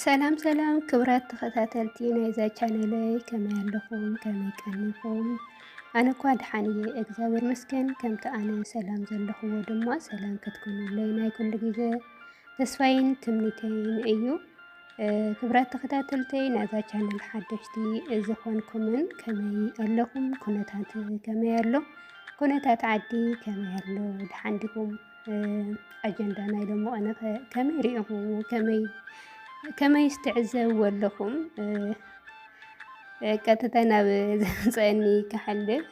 ሰላም ሰላም ክብራት ተኸታተልቲ ናይዛ ቻነለይ ከመይ ኣለኹም? ከመይ ቀኒኹም? ኣነ እኳ ድሓን እየ እግዚኣብሔር መስገን። ከምቲ ኣነ ሰላም ዘለኹዎ ድማ ሰላም ክትኮኑለይ ናይ ኩሉ ግዜ ተስፋይን ትምኒተይን እዩ። ክብራት ተኸታተልተይ ናይዛ ቻነል ሓደሽቲ ዝኾንኩምን ከመይ ኣለኹም? ኩነታት ከመይ ኣሎ? ኩነታት ዓዲ ከመይ ኣሎ? ድሓን ዲኹም? ኣጀንዳ ናይ ሎሚ ቀነ ከመይ ሪኢኹምዎ ከመይ ከመይስ ትዕዘብዎ ኣለኹም? ቀጥታ ናብ ዘምፀአኒ ክሓልፍ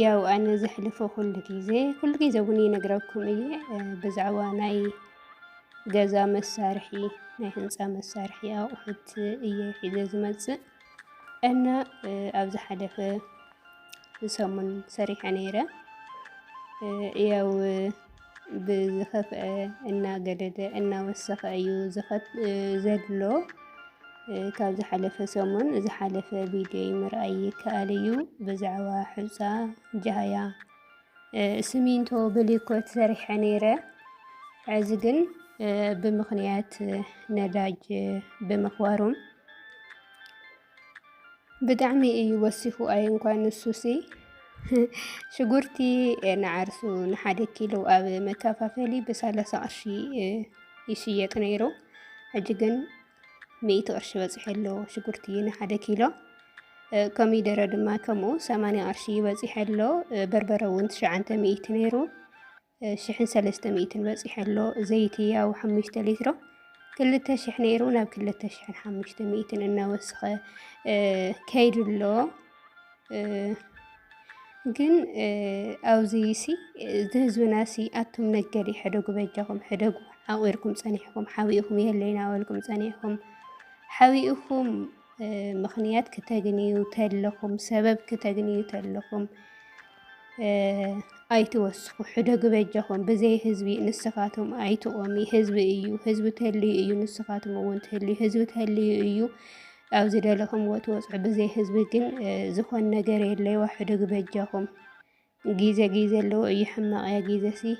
ያው ኣነ ዘሕልፎ ኩሉ ግዜ ኩሉ ግዜ እውን ይነግረኩም እየ ብዛዕባ ናይ ገዛ መሳርሒ ናይ ህንፃ መሳርሒ ኣቑሑት እየ ሒዘ ዝመፅእ እና ኣብ ዝሓለፈ ሰሙን ሰሪሐ ነይረ ያው ብዝኸፍአ እናገደደ እናወሰኸ እዩ ዘድሎ ካብ ዝሓለፈ ሰሙን ዝሓለፈ ቪድዮ ምርኣይ ይከኣል እዩ ብዛዕባ ሕፃ ጃህያ ስሚንቶ ብሊኮት ሰሪሐ ነይረ እዚ ግን ብምኽንያት ነዳጅ ብምኽባሩም ብጣዕሚ እዩ ወሲኹ ኣይ እንኳን ንሱሲ ሽጉርቲ ንዓርሱ ንሓደ ኪሎ ኣብ መከፋፈሊ ብሰላሳ ቅርሺ ይሽየጥ ነይሩ። ሕጂ ግን ሚእቲ ቅርሺ በፂሑ ኣሎ ሽጉርቲ ንሓደ ኪሎ። ኮሚደረ ድማ ከምኡ ሰማንያ ቅርሺ ይበፂሐ ኣሎ። በርበረ እውን ትሽዓንተ ሚእቲ ነይሩ። ሽሕን ሰለስተ ሚእትን በፂሑ ኣሎ። ዘይቲ ያው ሓሙሽተ ሊትሮ ክልተ ሽሕ ነይሩ ናብ ክልተ ሽሕን ሓሙሽተ ሚእትን እናወስኸ ከይዱ ኣሎ። ግን ኣብዚ ሲ እዚ ህዝብና ሲ ኣቱም ነገዲ ሕደጉ በጃኹም ሕደጉ ዓቑርኩም ፀኒሕኩም ሓቢእኹም የለይና በልኩም ፀኒሕኩም ሓቢእኹም ምኽንያት ክተግንዩ ተለኹም፣ ሰበብ ክተግንዩ ተለኹም ኣይትወስኹ፣ ሕደጉ በጃኹም። ብዘይ ህዝቢ ንስኻትኩም ኣይትቆሚ። ህዝቢ እዩ፣ ህዝቢ ተልዩ እዩ፣ ንስኻትኩም እውን ትህልዩ፣ ህዝቢ ተልዩ እዩ ኣብዚ ደለኹም ወትወፅዑ። ብዘይ ህዝቢ ግን ዝኾን ነገር የለይዋ፣ ሕደጉ በጃኹም። ግዜ ግዜ ኣለዎ እዩ ሕማቅ እያ ግዜ ሲ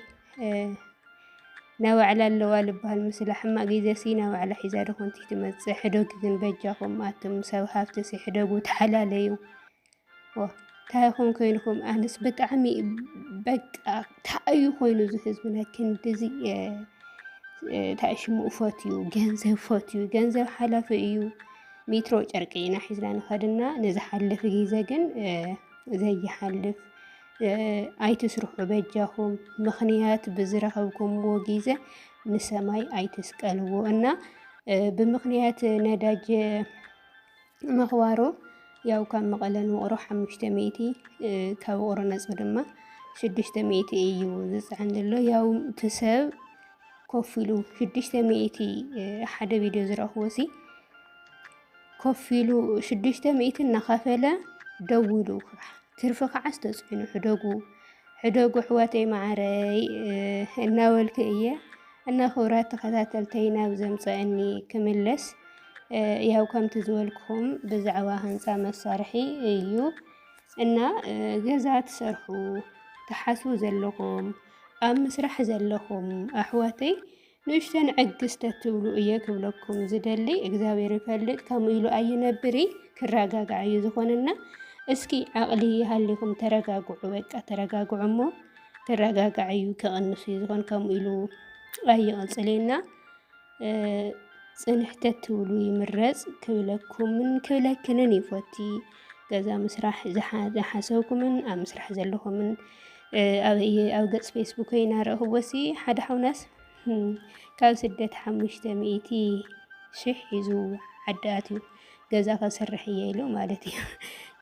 ናይ ባዕላ ኣለዋ ልባሃል ምስላ ሕማቅ ግዜ ሲ ናይ ባዕላ ሒዛ ዶ ኮንቲ ትመጽእ ሕደጉ ግን በጃኩም ኣቱም ሰብ ሃፍቲ ሲ ሕደጉ ተሓላለዩ ዋ ታይ ኮን ኮይንኩም ኣነስ ብጣዕሚ በቃ ታዩ ኮይኑ እዚ ህዝብና ክንድዚ ታይ ሽሙ ፈትዩ ገንዘብ ፈትዩ ገንዘብ ሓላፊ እዩ ሜትሮ ጨርቂ ኢና ሒዝና ንኸድና ነዚ ሓለፊ ግዜ ግን ዘይሓልፍ ኣይትስርሑ በጃኹም። ምኽንያት ብዝረኸብኩምዎ ጊዘ ንሰማይ ኣይትስቀልዎ እና ብምኽንያት ነዳጅ ምኽባሮ ያው ካብ መቐለ ንውቕሮ ሓሙሽተ ሚእቲ ካብ ውቕሮ ነፁ ድማ ሽዱሽተ ሚእቲ እዩ ዝፅዕን ዘሎ ያው ትሰብ ኮፍ ኢሉ ሽዱሽተ ሚእቲ ሓደ ቪድዮ ዝረኽቦ ሲ ኮፍ ኢሉ ሽዱሽተ ሚእቲ እናኸፈለ ደውሉ ትርፊ ከዓስ ተፅዕኑ ሕደጉ ሕደጉ ኣሕዋተይ መዓረይ እናበልኩ እየ እና ክብራት ተኸታተልተይ ናብ ዘምፀአኒ ክምለስ ያው ከምቲ ዝበልኩም ብዛዕባ ህንፃ መሳርሒ እዩ እና ገዛ ትሰርሑ ትሓስቡ ዘለኹም ኣብ ምስራሕ ዘለኹም ኣሕዋተይ ንእሽተን ዕግስ ተትብሉ እየ ክብለኩም ዝደሊ እግዚኣብሔር ይፈልጥ ከምኡ ኢሉ ኣይነብሪ ክረጋጋዕ እዩ ዝኾንና እስኪ ዓቕሊ ይሃሊኹም ተረጋግዑ በቃ ተረጋግዑ እሞ ክረጋጋዕ እዩ ክቕንሱ እዩ ዝኾን ከምኡ ኢሉ ኣይቕፅልና ፅንሕተት ትብሉ ይምረፅ ክብለኩምን ክብለክንን ይፎቲ ገዛ ምስራሕ ዝሓሰብኩምን ኣብ ምስራሕ ዘለኹምን ኣበየ ኣብ ገጽ ፌስቡከይ እናረእኽዎሲ ሓደ ሓውናስ ካብ ስደት ሓሙሽተ ሚእቲ ሽሕ ሒዙ ዓዲ ኣትዩ ገዛ ከስርሕ እየ ኢሉ ማለት እዩ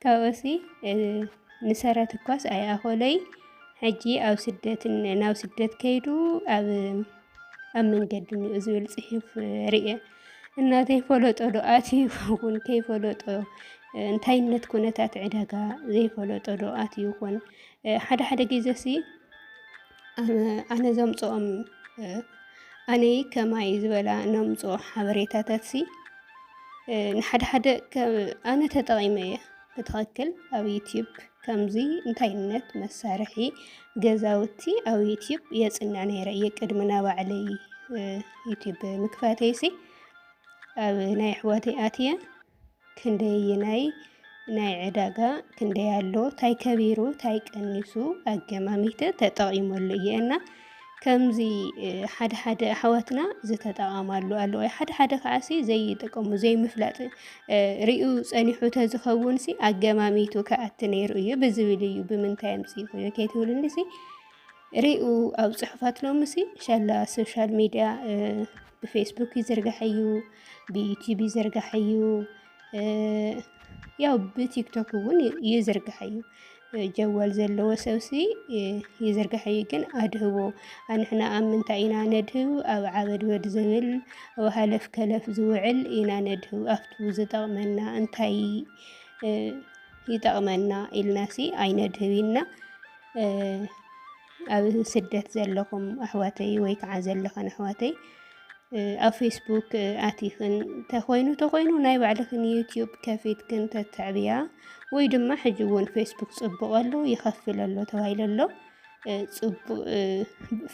ካብኡሲ ንሰረት እኳስ ኣይኣኸለይ ሕጂ ኣብ ስደት ናብ ስደት ከይዱ ኣብ ኣብ መንገዲ ዝብል ፅሑፍ ርእየ እናተይ ፈለጦ ዶ ኣትዩ ይኸውን ከይፈለጦ እንታይነት ኩነታት ዕዳጋ ዘይፈለጦ ዶ ኣትዩ ይኹን ሓደ ሓደ ግዜ ሲ ኣነ ዘምፅኦም ኣነ ከማይ ዝበላ ነምፅኦ ሓበሬታታት ሲ ንሓደ ሓደ ኣነ ተጠቒመ እየ ብትክክል ኣብ ዩትዩብ ከምዙይ እንታይነት መሳርሒ ገዛውቲ ኣብ ዩትዩብ የፅንዕ ነይረ እየ ቅድሚ ናባዕለይ ዩትዩብ ምክፋተይሲ ኣብ ናይ ኣሕዋተይ ኣትየ ክንደይ ናይ ናይ ዕዳጋ ክንደይ ኣሎ ታይ ከቢሩ ታይ ቀኒሱ ኣገማሚተ ተጠቂመሉ እየ እና ከምዚ ሓደ ሓደ ኣሕዋትና ዝተጠቐማሉ ኣለዎ ሓደ ሓደ ከዓሲ ዘይጥቀሙ ዘይምፍላጥ ሪኡ ፀኒሑ ተዝኸውንሲ ኣገማሚቱ ከኣቲ ነይሩ እዩ ብዝብል እዩ ብምንታይ ኣምፅእኹዮ ከይትብልንሲ ሪኡ ኣብ ፅሑፋት ሎምሲ ሻላ ሶሻል ሚድያ ብፌስቡክ ይዝርጋሕ እዩ ብዩቲዩብ ይዝርጋሕ እዩ ያው ብቲክቶክ እውን ይዝርግሐ እዩ ጀዋል ዘለዎ ሰብሲ ይዝርግሐ እዩ ግን ኣድህቦ ኣንሕና ኣብ ምንታይ ኢና ነድህብ ኣብ ዓበድበድ ዝብል ኣብ ሃለፍ ከለፍ ዝውዕል ኢና ነድህብ ኣብቱ ዝጠቕመና እንታይ ይጠቕመና ኢልናሲ ኣይነድህብ ኢና ኣብ ስደት ዘለኹም ኣሕዋተይ ወይ ከዓ ዘለኸን ኣሕዋተይ ኣብ ፌስቡክ ኣቲኽን ተኾይኑ ተኾይኑ ናይ ባዕልኽን ዩትዩብ ከፊትክን ተተዕብያ ወይ ድማ ሕጂ እውን ፌስቡክ ፅቡቕ ኣሎ ይኸፍል ኣሎ ተባሂሉ ኣሎ ፅቡቕ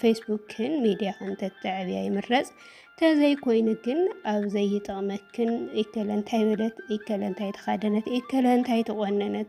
ፌስቡክን ሚድያኽን ተተዕብያ ይምረፅ ተዘይኮይኑ ግን ኣብ ዘይጠቕመክን ኢከለ እንታይ በለት ኢከለ እንታይ ተኻደነት ኢከለ እንታይ ተቖነነት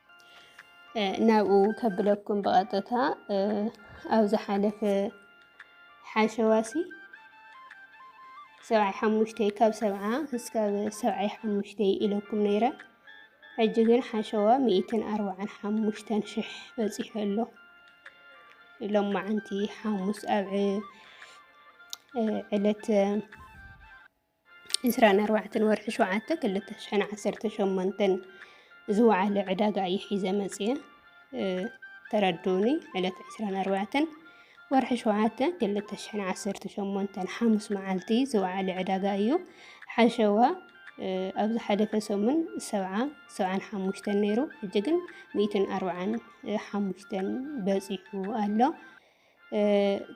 ናብኡ ከብለኩም ብቐጥታ ኣብ ዝሓለፈ ሓሸዋሲ ሰብዓይ ሓሙሽተይ ካብ ሰብዓ እስካብ ሰብዓይ ሓሙሽተይ ኢለኩም ነይረ ሕጂ ግን ሓሸዋ ሚእትን ኣርባዓን ሓሙሽተን ሽሕ በፂሑ ኣሎ ሎማዓንቲ ሓሙስ ኣብ ዕለት ዕስራን ኣርባዕተን ወርሒ ሸውዓተ ክልተ ሽሕን ዓሰርተ ሸሞንተን ዝወዓለ ዕዳጋ እዩ ሒዘ መፅየ ተረድኡኒ ዕለት ዕስራን ኣርባዕተን ወርሒ ሸውዓተ ክልተ ሽሕን ዓሰርተ ሸሞንተን ሓሙስ መዓልቲ ዝወዓለ ዕዳጋ እዩ ሓሸዋ ኣብ ዝሓለፈ ሰሙን ሰብዓ ሰብዓን ሓሙሽተን ነይሩ ሕጂ ግን ሚእትን ኣርባዓን ሓሙሽተን በፂሑ ኣሎ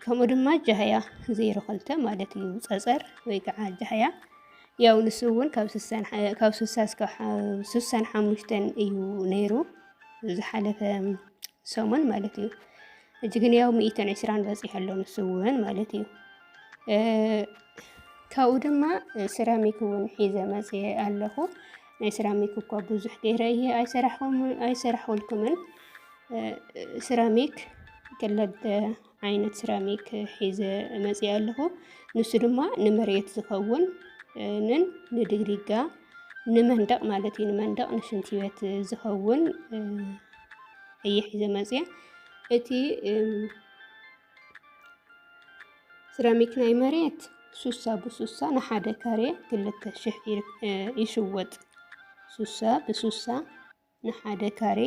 ከምኡ ድማ ጃህያ ዜሮ ክልተ ማለት እዩ ፀፀር ወይ ከዓ ጃህያ ያው ንሱ እውን ካብ ስሳ እስካብ ስሳን ሓሙሽተን እዩ ነይሩ ዝሓለፈ ሰሙን ማለት እዩ እጅ ግን ያው ሚእትን ዕስራን በፂሑ ኣሎ ንሱ እውን ማለት እዩ ካብኡ ድማ ሴራሚክ እውን ሒዘ መፅየ ኣለኹ ናይ ሰራሚክ እኳ ብዙሕ ገይረ እየ ኣይሰራሕኩልኩምን። ሰራሚክ ክለተ ዓይነት ሰራሚክ ሒዘ መፅየ ኣለኹ። ንሱ ድማ ንመሬት ዝኸውን ንን ንድግሪጋ ንመንደቕ ማለት እዩ ንመንደቕ ንሽንቲ ቤት ዝኸውን እየ ሒዘ መፅየ እቲ ስራሚክ ናይ መሬት ሱሳ ብሱሳ ንሓደ ካሬ ክልተ ሽሕ ይሽወጥ። ሱሳ ብሱሳ ንሓደ ካሬ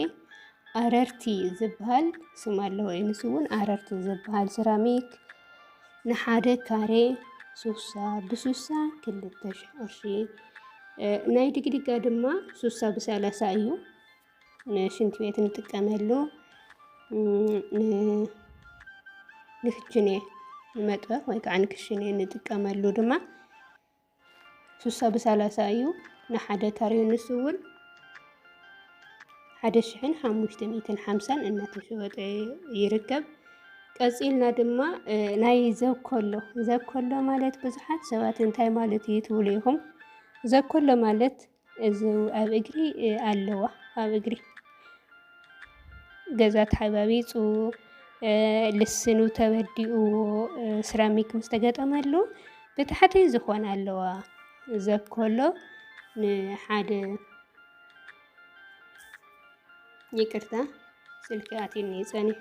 ኣረርቲ ዝበሃል ስም ኣለዎ እዩ። ንሱ እውን ኣረርቲ ዝበሃል ስራሚክ ንሓደ ካሬ ሱሳ ብሱሳ ክልተ ሽሕ ቅርሺ ናይ ድግድጋ ድማ ሱሳ ብሰላሳ እዩ። ንሽንቲ ቤት ንጥቀመሉ ንክችኔ ንመጥበኽ ወይ ከዓ ንክሽኔ ንጥቀመሉ ድማ ስሳ ብሳላሳ እዩ ንሓደ ካሬ ንሱ እውን ሓደ ሽሕን ሓሙሽተ ሚእትን ሓምሳን እናተሸወጠ ይርከብ። ቀፂልና ድማ ናይ ዘኮሎ ዘኮሎ ማለት ብዙሓት ሰባት እንታይ ማለት እዩ ትብሉ ኢኹም? ዘኮሎ ማለት እዙ ኣብ እግሪ ኣለዋ ኣብ እግሪ ገዛ ተሓባቢፁ ልስኑ ተበዲኡ ስራሚክ ምስ ተገጠመሉ ብታሕቲ ዝኾነ ኣለዋ ዘኮሎ ንሓደ ይቅርታ ስልኪ ኣትዩኒ ፀኒሑ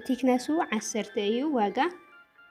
ቲክነሱ ዓሰርተ እዩ ዋጋ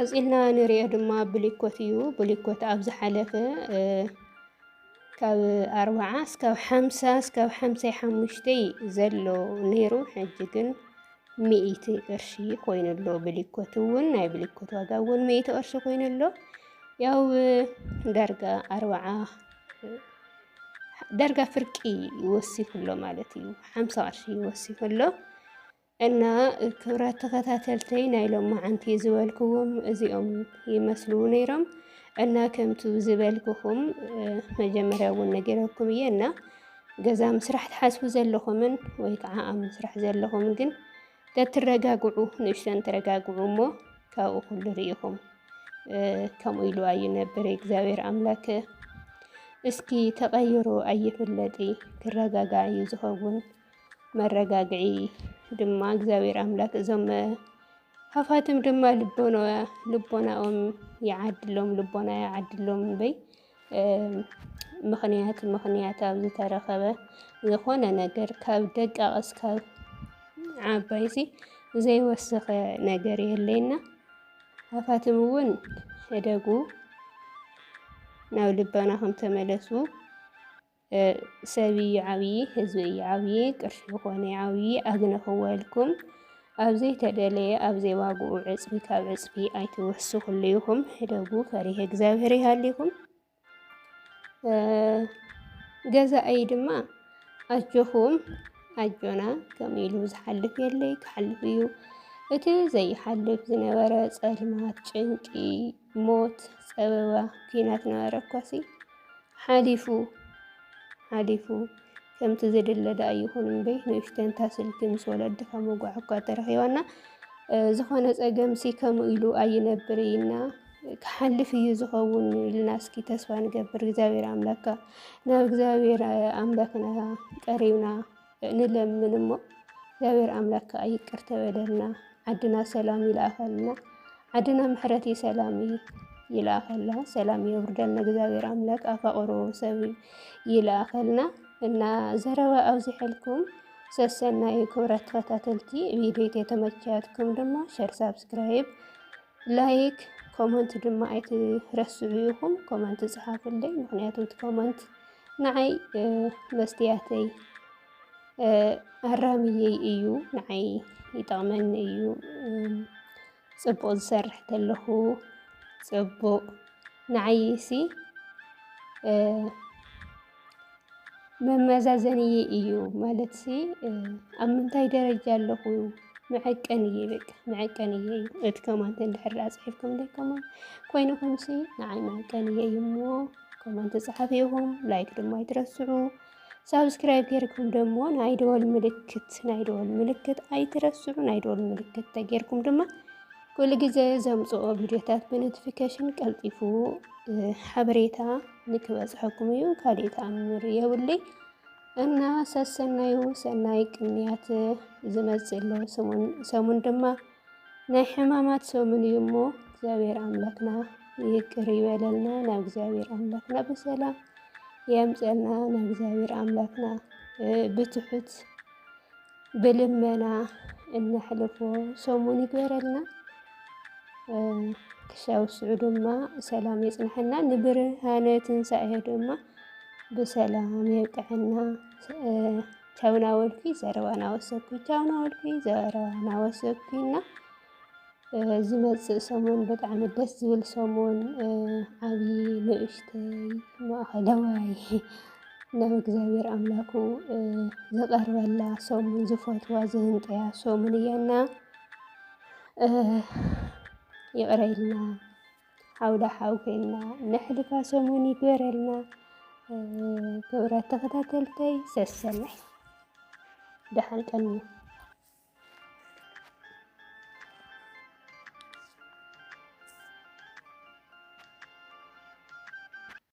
ቀፂልና ንሪኦ ድማ ብሊኮት እዩ። ብሊኮት ኣብ ዝሓለፈ ካብ ኣርባዓ እስካብ ሓምሳ እስካብ ሓምሳይ ሓሙሽተይ ዘሎ ነይሩ ሕጂ ግን ሚእቲ ቅርሺ ኮይኑ ኣሎ። ብሊኮት እውን ናይ ብሊኮት ዋጋ እውን ሚእቲ ቅርሺ ኮይኑ ኣሎ። ያው ዳርጋ ኣርባዓ ዳርጋ ፍርቂ ይወሲኹ ኣሎ ማለት እዩ። ሓምሳ ቅርሺ ይወሲኹ ኣሎ። እና ክብራት ተኸታተልተይ ናይ ሎማዓንቲ ዝበልክዎም እዚኦም ይመስሉ ነይሮም እና ከምቱ ዝበልክኹም መጀመርያ እውን ነገረኩም እየ እና ገዛ ምስራሕ ትሓስቡ ዘለኹምን ወይ ከዓ ኣብ ምስራሕ ዘለኹምን ግን ተትረጋግዑ ንእሽተን ተረጋግዑ እሞ ካብኡ ኩሉ ርኢኹም ከምኡ ኢሉ ኣይነብር እግዚኣብሔር ኣምላክ እስኪ ተቐይሮ ኣይፍለጢ ክረጋጋዕ እዩ ዝኸውን መረጋግዒ ድማ እግዚኣብሔር ኣምላክ እዞም ሃፋትም ድማ ልቦናኦም ይዓድሎም ልቦና ይዓድሎም በይ ምኽንያት ምኽንያት ኣብ ዝተረኸበ ዝኾነ ነገር ካብ ደቃቕ እስካብ ዓባይ ሲ ዘይወሰኸ ነገር የለይና ሃፋትም እውን እደጉ ናብ ልቦናኹም ተመለሱ። ሰብ እዩ ዓብዪ፣ ህዝቢ እዩ ዓብዪ፣ ቅርሺ ኮነ ይዓብዪ ኣግነኽዎ ኢልኩም ኣብ ዘይተደለየ ኣብ ዘይዋግኡ ዕፅፊ ካብ ዕፅፊ ኣይትወስኹሉ ኢኹም። ህደጉ ፈሪሄ እግዚኣብሔር ይሃሊኹም። ገዛኣይ ድማ ኣጆኹም ኣጆና ከምኡ ኢሉ ዝሓልፍ የለይ ክሓልፍ እዩ እቲ ዘይሓልፍ ዝነበረ ጸልማት ጭንቂ ሞት ጸበባ ኲናት ነበረ እኳሲ ሓሊፉ ሓሊፉ ከምቲ ዝድለ ደኣ ይኹን እምበይ ንእሽተንታ ስልኪ ምስ ወለድኻ መጓዕ እኳ ተረኺባና ዝኾነ ጸገም ሲ ከምኡ ኢሉ ኣይነብር ኢና ክሓልፍ እዩ ዝኸውን ኢልና እስኪ ተስፋ ንገብር። እግዚኣብሔር ኣምላካ ናብ እግዚኣብሔር ኣምላክና ቀሪብና ንለምን እሞ እግዚኣብሔር ኣምላክ ከዓ ይቅር ተበለልና ዓድና ሰላም ይልኣኸልና ዓድና ምሕረት ሰላም ይልኣኸልና ሰላም የውርደልና እግዚኣብሔር ኣምላክ ኣፋቅሮ ሰብ ይልኣኸልና እና ዘረባ ኣብዚሐልኩም ሰሰናዩ ክብረት ተኸታተልቲ ቪዲዮ የተመቻትኩም ድማ ሸር ሳብስክራይብ ላይክ ኮመንት ድማ ኣይትረስዑ ይኹም ኮመንት ጽሓፍለይ ምክንያቱ ኮመንት ንዓይ መስትያተይ ኣራምየይ እዩ ንዓይ ይጠቕመኒ እዩ ፅቡቕ ዝሰርሕ ተለኹ ፅቡቕ ንዓይ ሲ መመዛዘንየ እዩ ማለት ሲ ኣብ ምንታይ ደረጃ ኣለኹ መዐቀን እየ በቃ መዐቀን እየ እዩ እቲ ከማንት እንድሕር ኣፅሒፍኩም ደይ ከማን ኮይኑ ኮይኑ ሲ ንዓይ መዐቀን እየ እሞ ኮመንት ጸሓፊ ኢኹም፣ ላይክ ድማ ኣይትረስዑ። ሳብስክራይብ ጌርኩም ደሞ ናይ ደወል ምልክት ናይ ደወል ምልክት ኣይትረስዑ። ናይ ደወል ምልክት ተጌርኩም ድማ ኩሉ ግዜ ዘምጽኦ ቪድዮታት ብኖቲፊኬሽን ቀልጢፉ ሓበሬታ ንክበጽሐኩም እዩ። ካልእ ተኣምር የብለይ እና ሰሰናዩ ሰናይ ቅንያት ዝመጽእ ኣሎ ሰሙን ድማ ናይ ሕማማት ሰሙን እዩ እሞ እግዚኣብሔር ኣምላክና ይቅር ይበለልና ናብ እግዚኣብሔር ኣምላክና ብሰላም የምፀና ናብ እግዚኣብሔር ኣምላክና ብትሑት ብልመና እነሕልፎ ሰሙን ይግበረልና። ክሻብ ስዑ ድማ ሰላም የፅንሐና። ንብርሃነ ትንሳኤ ድማ ብሰላም የብቅዐና። ቻው ናወልኩኝ ዘረባ ናወሰኩኝ ቻው ናወልኩኝ ዘረባ ናወሰኩኝ እና ዝመፅእ ሰሙን ብጣዕሚ ደስ ዝብል ሰሙን ዓብዪ ንእሽተይ ማእኸለዋይ ናብ እግዚኣብሔር ኣምላኩ ዝቐርበላ ሰሙን ዝፈትዋ ዝህንጠያ ሰሙን እያና ይቕረ ኢልና ዓውደ ሓው ኮይና ነሕልፋ ሰሙን ይግበረልና። ክብራት ተኸታተልተይ ሰሰናይ ደሓን ቀኑ